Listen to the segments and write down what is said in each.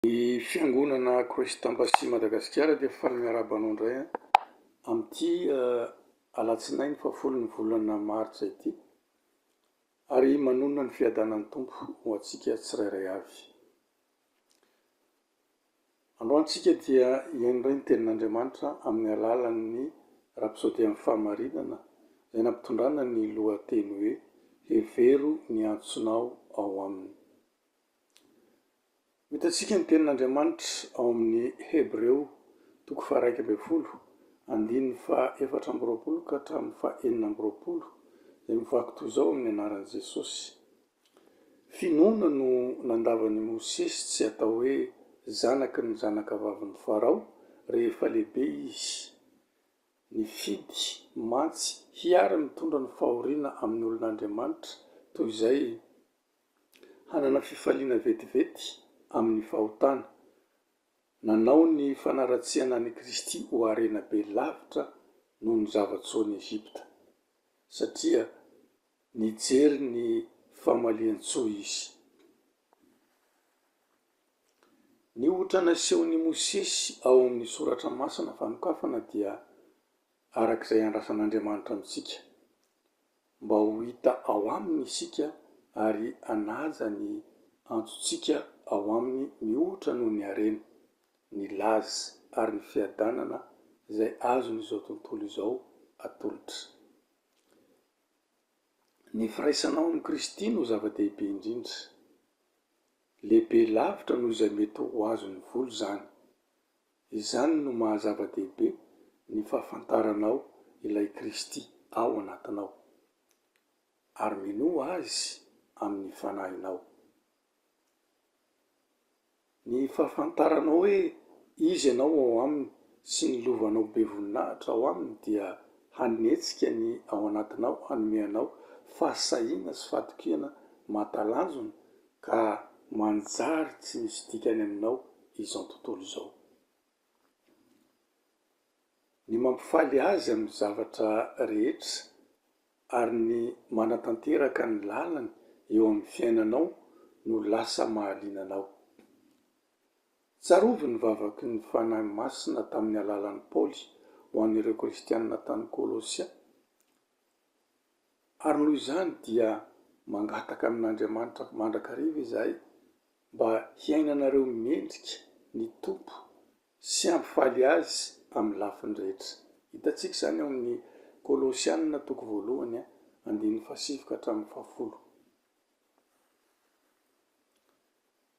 Ny fiangonana Christ Embassy Madagasikara dia faly miarahaba anao indray amin'ity alatsinainy fahafolo ny volana martsa ity ary manonona ny fiadanan'ny Tompo ho antsika tsirairay avy. Androany isika dia hihaino indray ny tenin'Andriamanitra amin'ny alalan'ny rapsody amin'ny fahamarinana izay nampitondrana ny lohateny hoe Hevero ny antsonao ao aminy. Ho hitantsika ny tenin'Andriamanitra ao amin'ny Hebreo toko faharaika ambin'ny folo, andininy fahaefatra amby roapolo ka hatramin'ny fahenina amby roapolo, izay mivaky toy izao amin'ny anaran'i Jesosy, Finoana no nandavan'i Mosesy tsy hatao hoe zanaky ny zanakavavin'i Farao rehefa lehibe izy, nifidy mantsy hiara-mitondra ny fahoriana amin'ny olon'Andriamanitra toy izay hanana fifaliana vetivety amin'ny fahotana, nanao ny fanaratsiana an'i Kristy ho harena be lavitra noho ny zava-tsoan'i Egypta, satria nijery ny famalian-tsoa izy. Ny ohatra nasehon'i Mosesy ao amin'ny Soratra Masina fanokafana dia. araka izay andrasan'Andriamanitra amintsika, mba ho hita ao Aminy isika ary hanaja ny antsontsika ao Aminy mihoatra noho ny harena, ny laza ary ny fiadanana izay azon'izao tontolo izao atolotra. Ny firaisanao amin'i Kristy no zava-dehibe indrindra. Lehibe lavitra noho izay mety ho azon'ny vola izany. Izany no maha zava-dehibe ny fahafantaranao ilay Kristy ao anatinao, ary minoa Azy amin'ny fanahinao. Ny fahafantaranao hoe Izy ianao ao Aminy sy ny lovanao be voninahitra ao Aminy dia hanetsika ny ao anatinao hanome anao fahasahiana sy fahatokiana mahatalanjona Ka manjary tsy misy dikany aminao izao tontolo izao. Ny mampifaly azy amin'ny zavatra rehetra ary ny manatanteraka ny lalany eo amin'ny fiainanao no lasa mahaliana anao. Tsarovy ny vavaky ny Fanahy Masina tamin'ny alalan'i Paoly ho an'ireo Kristianina tany Kolosia. Ary noho izany dia mangataka amin'Andriamanitra mandrakariva izahay mba hiainanareo mendrika ny Tompo sy hampifaly Azy amin'ny lafiny rehetra. Hitantsika izany ao amin'ny Kolosiana toko voalohany, andininy fahasivy ka hatramin'ny fahafolo.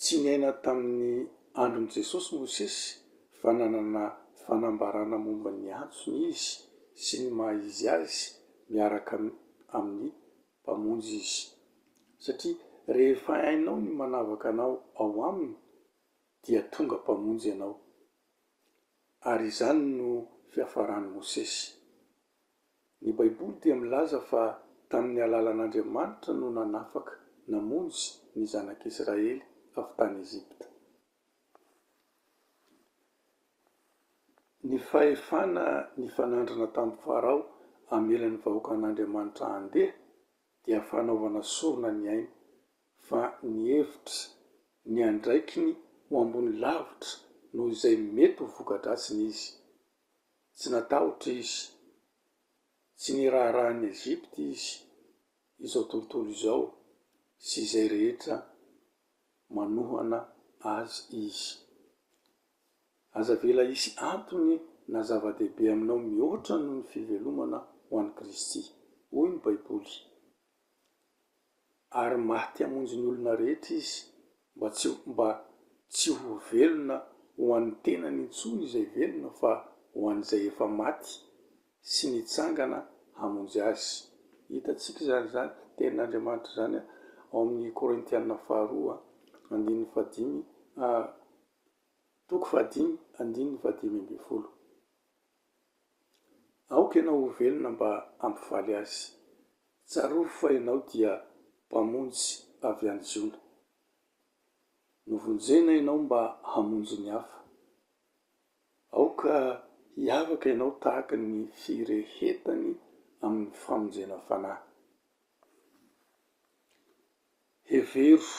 Tsy niaina tamin'ny andron'i Jesosy Mosesy fa nanana fanambarana momba ny antsony izy sy ny maha-izy azy miaraka amin'ny Mpamonjy izy. Satria rehefa hainao ny manavaka anao ao Aminy dia tonga Mpamonjy ianao. Ary izany no fiafaran'i Mosesy. Ny Baiboly dia milaza fa tamin'ny alalan'Andriamanitra no nanafaka, namonjy, ny zanak'Israely avy tany Egypta. Ny fahefana nifanandrina tamin'i Farao hamela ny vahoakan'Andriamanitra handeha dia fanaovana sorona ny ainy, fa ny hevitra, ny andraikiny ho ambony lavitra noho izay mety ho voka-dratsiny izy. Tsy natahotra izy. Tsy niraharaha an'i Egypta izy, izao tontolo izao sy izay rehetra manohana azy izy. Aza avela hisy antony na zava-dehibe aminao mihoatra noho ny fivelomana ho an'i Kristy. Hoy ny Baiboly, ary maty hamonjy ny olona rehetra izy, mba tsy mba tsy ho velona ho an'ny tenany intsony izay velona fa ho an'izay efa maty sy nitsangana hamonjy azy. Hitantsika izany izany tenin'Andriamanitra izany ao amin'ny Korintiana faharoa andininy fahadimy, toko fahadimy andininy fahadimy ambin'ny folo. Aoka ianao ho velona mba hampifaly azy. Tsarovy fa ianao dia Mpamonjy avy any Ziona. Novonjena ianao mba hamonjy ny hafa. Aoka hiavaka ianao tahaka ny firehetany amin'ny famonjena fanahy. Hevero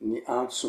ny antson'ny